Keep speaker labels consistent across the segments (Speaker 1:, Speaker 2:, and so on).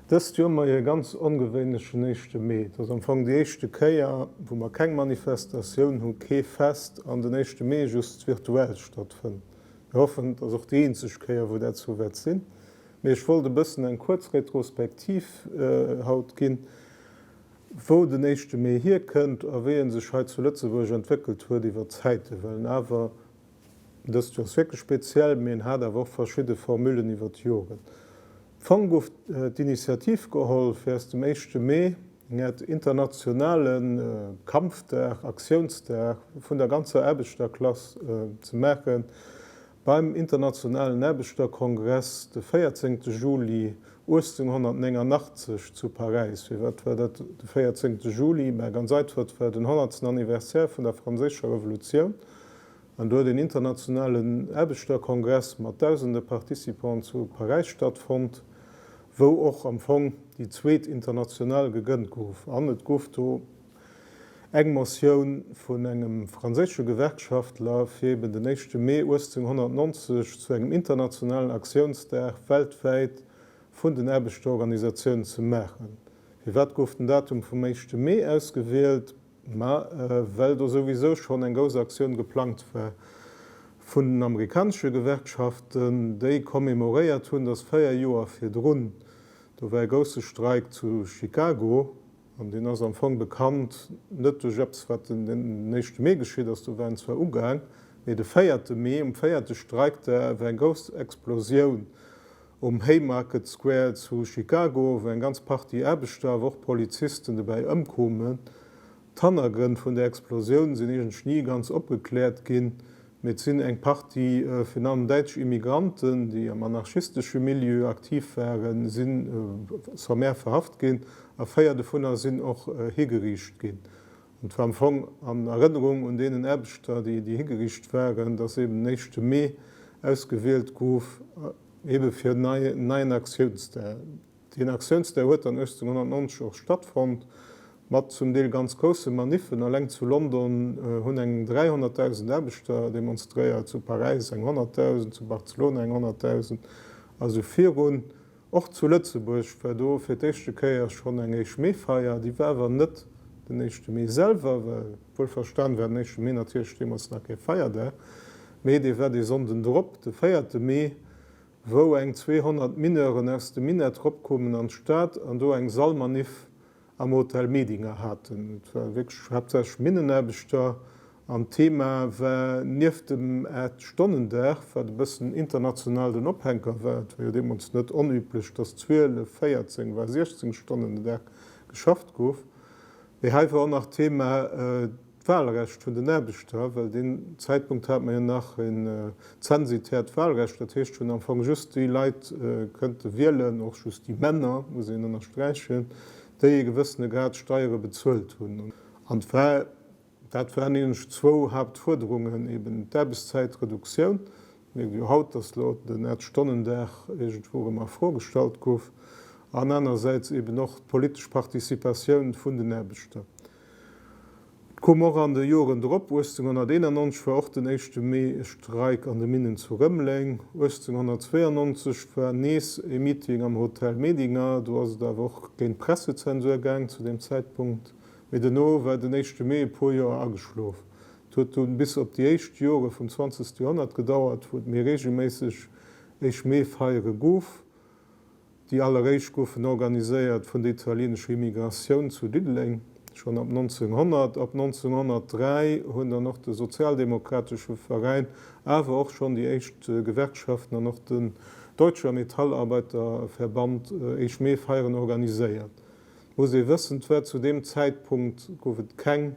Speaker 1: Dëst Joer hu mer ee ganz ongewéinlechen éischte Mee. Et ass am Fong déi éischte Kéier, wou mer keng Manifestatioun hunn, kee Fest an den éischte Mee just virtuell stattfënnt. Mir hoffen, et ass och déi eenzeg Kéier, wou dat sou wäert sinn. Mee ech wollt e bëssen eng kuerz Retrospektiv haut ginn. Wou den éischte Mee hierkënnt a wéi en sech hei zu Lëtzebuerg entwéckelt huet iwwer d'Zäite, well awer, dëst Joer ass wierklech speziell, mee en hat awer och verschidde Formullen iwwer d'Joren. Fong gouf d'Initiativ geholl, fir aus dem éischte Mee eng Äert internationale Kampfdag, Aktiounsdag vun der ganzer Aarbechterklass ze maachen Beim Internationalen Aarbechterkongress de 14 Juli 1889 zu Paräis. Firwat war dat de 14 Juli? Mä ganz einfach, et war den honnertsten Anniversaire vun der Franséischer Revolutioun an do huet een Internationalen Aarbechterkongress mat dausende Participanten zu Paräis stattfonnt, wou och am Fong déi zweet International gegënnt gouf an et gouf do, Eng Motioun vun engem franséische Gewerkschaftler, fir eben den éischte Mee 1890 zu engem internationalen Aktiounsdag weltwäit vun den Aarbechterorganisatiounen ze maachen. Firwat gouf den Datum vum éischte Mee ausgewielt? Ma well do souwisou schonn eng grouss Aktioun geplangt war vun den amerikanesche Gewerkschaften, déi commemoréiert hunn, datt véier Joer virdrun, do war e grousse Streik zu Chicago, An deen ass am Fong bekannt net duerch eppes, wat den éischte Mee geschitt ass, do war en zwar ugaang, mee de véierte Mee, um véierte Streikdag war eng grouss Explosioun um Haymarket Square zu Chicago, wou eng ganz Partie Aarbechter, awer och Polizisten dobäi ëmkoumen. D'Hannergrënn vun där Explosioun sinn iergendsch ni ganz opgekläert ginn, Mee et sinn eng Partie, virun allem däitsch Immigranten, déi am anarchistesche Milieu aktiv waren, si sommaire verhaft ginn a véier dovunner sinn och higeriicht ginn. An et war am Fong an Erënnerung un deenen Aarbechter, déi higeriicht waren, datt eben den éischte Mee ausgewielt gouf, ebe fir en neien Aktiounsdag. Deen Aktiounsdag huet dann 1890 och stattfonnt, mat zum Deel ganz grousse Maniffen. Alleng zu London hunn eng 300.000 Aarbechter demonstréiert, zu Paräis eng 100.000, zu Barcelona eng 100.000 a sou virun. Och zu Lëtzebuerg war do fir d'éischte Kéier schonn eng éischt Mee-Feier. Déi war awer net den éischte Mee selwer, well wuelverstan war den éischte Mee natierlech deemools nach kee Feierdag, mee dee war dee Sonnden drop, de véierte Mee, wou eng 200 Mineuren aus dem Minett ropkoumen an d'Stad an do eng Salmanif am Hotel Medinger haten. Et ware wierklech haaptsächlech Minnenaarbechter an d'Thema war nieft dem Aacht-Stonnen-Dag, wat e bëssen international den Ophänker war, et war jo deemools net onüblech, datt 12, 14, war 16 Stonnen den Dag geschafft gouf, mee hei war och nach Thema, D'Wahlrecht vun den Aarbechter, well deen Zäitpunkt hat mer jo nach en zensitärt Wahlrecht, dat heescht hunn am Fong just déi Leit kënnte wielen, och just déi Männer, muss een ënnersträichen, déi e gewëssene Grad Steiere bezuelt hunn. An et war, dat waren nämlech zwou Hauptfuerderungen, eben d'Aarbechtszäitreduktioun, et mierkt ee jo haut, datt elo den Aacht-Stonnen-Dag iergendwou erëm a Fro gestallt gouf, an anerersäits eben och d'politesch Participatioun vun den Aarbechter. Et koom och an de Joren drop, 1891 war och den éischte Mee e Streik an de Minnen zu Rëmeleng, 1892 war nees e Meeting am Hotel Medinger, do ass et awer och géint d'Pressezensur gaang zu deem Zäitpunkt, mee dono war den éischte Mee e puer Joer ageschlof. Et huet dunn bis op déi éischt Jore vum zwanzegste Joerhonnert gedauert, wou et méi reegelméisseg éischt Mee-Feiere gouf, Déi alleréischt goufen organiséiert vun der italienescher Immigratioun zu Diddeleng, schonn ab 1900. Ab 1903 hunn dann och de sozialdemokratesche Veräin, awer och schonn déi éischt Gewerkschaften an och den Deutscher Metallarbeiterverband éischt Meefeieren organiséiert. Et muss ee wëssen, et war zu deem Zäitpunkt gouf et keng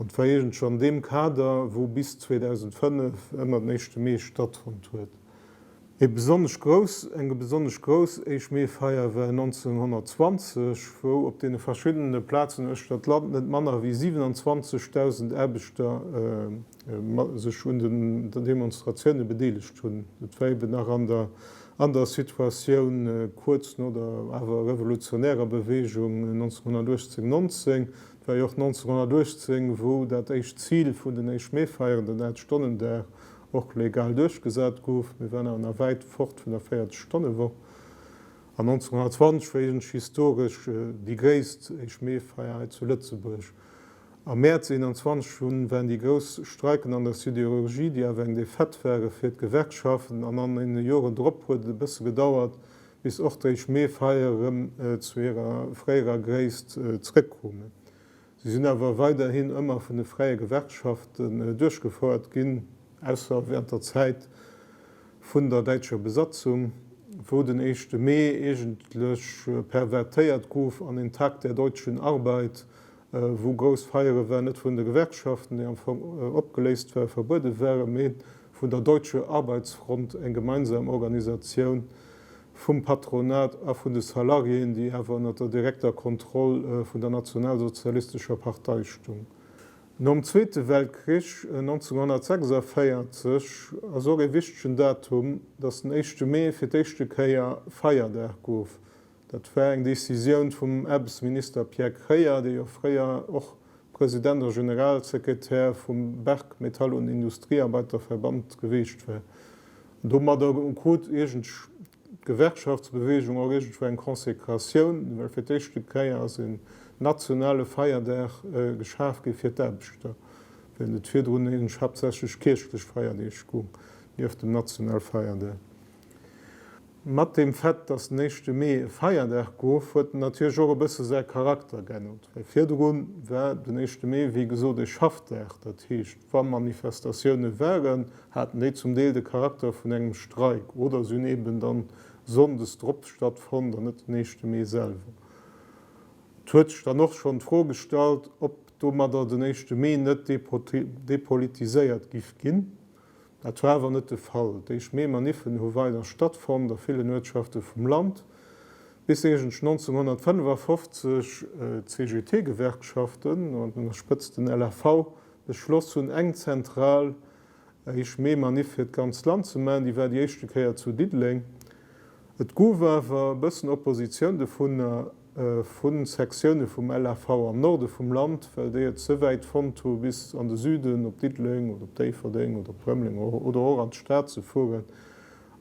Speaker 1: Et war iergend scho an deem Kader, wou bis 2005 ëmmer den éischte Mee stattfonnt huet. Ee besonnesch grouss, eng besonnesch grouss éischt Meefeier war 1920, wou op deene verschiddene Plazen uechter d'Land net manner wéi 27.000 Aarbechter sech un den Demonstratioune bedeelegt hunn. Et war eben nach an der an der Situatioun kuerz no der awer revolutionärer Beweegung 1918, 19. wéi och 1918, wou dat éischt Zil vun den Éischt-Mee-Feieren, den Aacht-Stonnen-Dag, och legal duerchgesat gouf. Mir waren awer nach wäit fort vun der 40-Stonne-Woch. An 1920, wéi ech historesch déi gréisst Éischt-Mee-Feier hei zu Lëtzebuerg am Mäerz 21 hunn, waren déi grouss Streiken an der Sidérurgie, déi awer eng Défaite ware fir d'Gewerkschaften. An an deene Joren drop huet et e bësse gedauert, bis och d'Réisch Meefeier erëm zu hirer fréierer Gréisst zeréckkomen. Si sinn awer weiderhin ëmmer vun de fräie Gewerkschaften duerchgefouert ginn, ausser während der Zäit vun der däitscher Besatzung, wou den éischte Mee eegentlech pervertéiert gouf an een Tag der deutschen Arbeit, wou grouss Feiere waren, net vun de Gewerkschaften, déi am Fong opgeléist waren, verbuede waren, mee vun der Deutsche Arbeitsfront, eng gemeinsam Organisatioun vum Patronat a vun de Salariéen, déi awer ënner der direkter Kontroll vun der nationalsozialistescher Partei stung. Nom Zweete Weltkrich, 1946, ass och ee wichtegen Datum, datt den éischte Mee fir d'éischte Kéier Feierdag gouf, Dat war eng Decisioun vum Aarbechtsminister Pierre Kreyer, dee jo fréier och President a Generalsekretär vum Berck Metall und Industriearbeiterverband geweecht war. An domadder krut iergend d'Gewerkschaftsbeweegung och iergendwou eng Konsekratioun, well fir d'éischt de Kreyer ass een nationale Feierdag geschaf gi fir d'Aarbechter, wärend et virdrun iergendwou haaptsächlech kierchlech Feierdeeg goung, nieft dem Nationalfeierdag. Mat dem Fait, dass den éischte Mee e Feierdag gouf, huet en natierlech och e bësse säi Charakter geännert, well virdru war den éischte Mee, wéi gesot, e Schaffdag. Dat heescht, wa Manifestatioune waren, haten déi zum Deel de Charakter vun engem Streik oder se hunn eeben dann sonndes drop stattfonnt an net den éischte Mee selwer. Et huet sech dann och schonn d'Fro gestallt, ob domadder den éischte Mee net depolitiséiert giff ginn. Dat war awer net de Fall. D'éischt Mee-Maniffen hu weider stattfonnt a villen Uertschafte vum Land, bis iergendsch 1955 d'CGT-Gewerkschaften, an der Spëtzt den LAV, beschloss hunn, eng zentral éischt Mee-Maniff fir d'ganzt Land ze maachen. Déi war déi éischte Kéier zu Diddeleng. Et gouf awer e bëssen Oppositioun dovunner. vu Sektioune vum LAV am Norde vum Land, well déi et ze wäit fonnt hu bis an de Süden, op Diddeleng oder op Déifferdeng oder op Rëmeleng oder och an d'Stad ze fueren,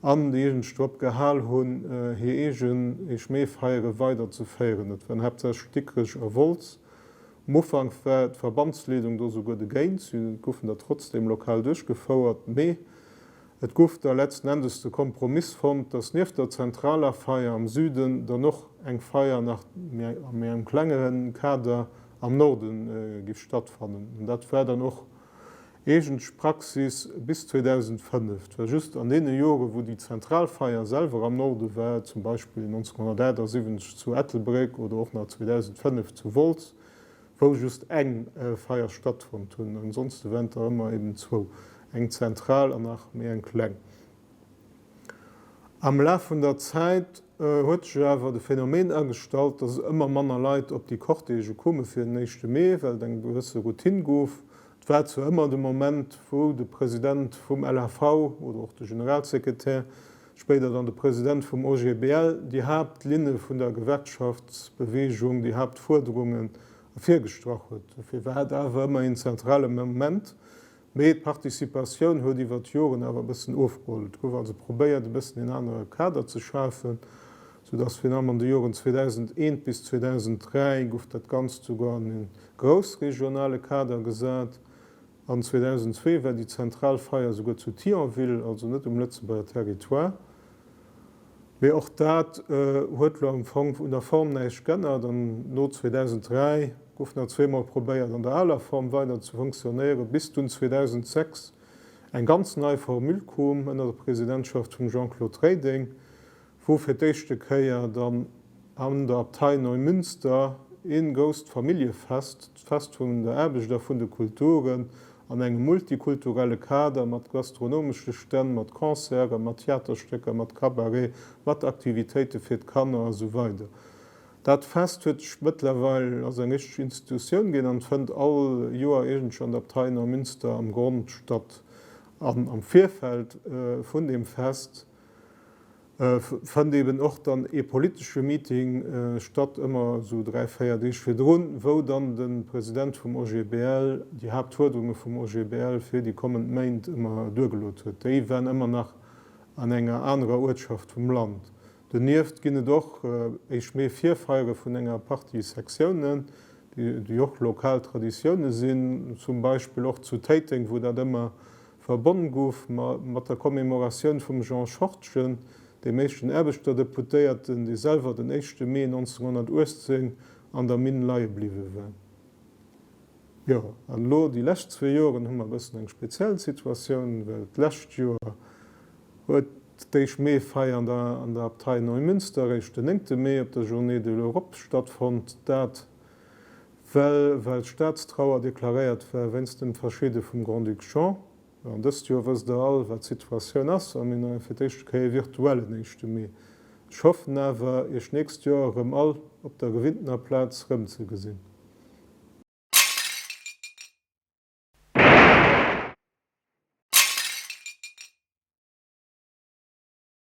Speaker 1: an déi eegenescht drop gehal hunn, hir eegen Eechmeefeiere weider ze féieren. Et waren haaptsächlech Dikrech a Wolz. Um Ufank war d'Verbandsleedung do souguer dogéint, si goufen der trotzdeem lokal duerchgefouert, mee Et gouf da letzten Endes de Kompromiss fonnt, dass nieft der zentraler Feier am Süden dann och eng Feier nach a méi engem klengeren Kader am Norde giff stattfannen. An dat war dann och eegentlech Praxis bis 2005. Et war just an deene Joren, wou déi zentral Feier selwer am Norde war, zum Beispill 1978 zu Ettelbréck oder och nach 2005 zu Wolz, wou just eng Feier stattfonnt hunn, ansonsten went der ëmmer eben zwou, eng zentral an nach méi eng kleng. Am Laf vun der Zäit huet sech awer de Phänomen agestallt, dass ëmmer manner Leit op déi Cortège kome fir den Éischte Mee, well et eng gewësse Routine gouf. Et war zwar ëmmer de Moment, wou de President vum LHV oder och de Generalsekretär, spéider dann de President vum OGBL, déi Haaptlinne vun der Gewerkschaftsbeweegung, déi Haaptfuerderungen ervirgestrach huet. Dofir war et awer ëmmer een zentrale Moment. Mee d'Participatioun huet iwwer d'Joren awer e bëssen ofgeholl. Et gouf also probéiert, e bëssen een anere Kader ze schafen, soudatt virun allem an de Joren 2001 bis 2003 gouf dat Ganzt souguer an e groussregionale Kader gesat, An 2002 war déi zentral Feier souguer zu Thionville, also net um Lëtzebuerger Territoire. Mee och dat huet elo am Fong un der Form näischt g'ännert an no 2003 gouf nach zweemol probéiert an der aler Form weider ze funktionéieren, bis dunn 2006 eng ganz nei Formule koom ënner der Presidentschaft vum Jean-Claude Reding, wou fir d'éischte Kéier dann an der Abtei Neumünster ee grousst Familljefest, d'Fest vun der Aarbecht a vun de Kulturen, an engem multikulturelle Kader mat gastronomesche Stänn, mat Concerten, mat Theaterstécker, mat Cabaret, mat Aktivitéite fir d'Kanner a sou weider. Dat Fest huet sech mëttlerweil, ass eng richteg Institutioun ginn an fënnt all Joer iergendwou an der Abtei Neumünster am Grond statt. An am Virfeld vun deem Fest, fënnt eben och dann ee politesche Meeting statt, ëmmer esou dräi, véier Deeg virdrun, wou dann de President vum OGBL déi Haaptfuerderunge vum OGBL fir déi kommend Méint ëmmer duergelot huet. Déi waren ëmmer nach an enger anerer Uertschaft vum Land. Donieft ginn et och éischt Mee Virfeiere vun enger Partie Sektiounen, déi och lokal Traditioune sinn, zum Beispill och zu Téiteng, wou dat ëmmer Verbonne gouf mat der Commemoratioun vum Jean Schortgen, deem éischten Aarbechterdeputéierten, dee selwer den éischte Mee 1918 an der Minn leie bliwwe war. Jo, an elo déi lescht zwee Joren hu mer e bëssen eng speziell Situatioun, well d'lescht Joer huet d'éischt Meefeier an der Abtei Neumünster eréischt den néngte Mee op der Journée de l'Europe stattfonnt. Dat Well well Staatstrauer deklaréiert war wéinst dem Verschidde vum Grand-Duc Jean. An dëst Joer wësst der all, wat d'Situatioun ass, a mir hunn fir d'éischte Kéier ee virtuellen éischte Mee. Ech hoffen awer, Iech d'nächst Joer erëm all op der gewinntener Plaz erëmzegesinn.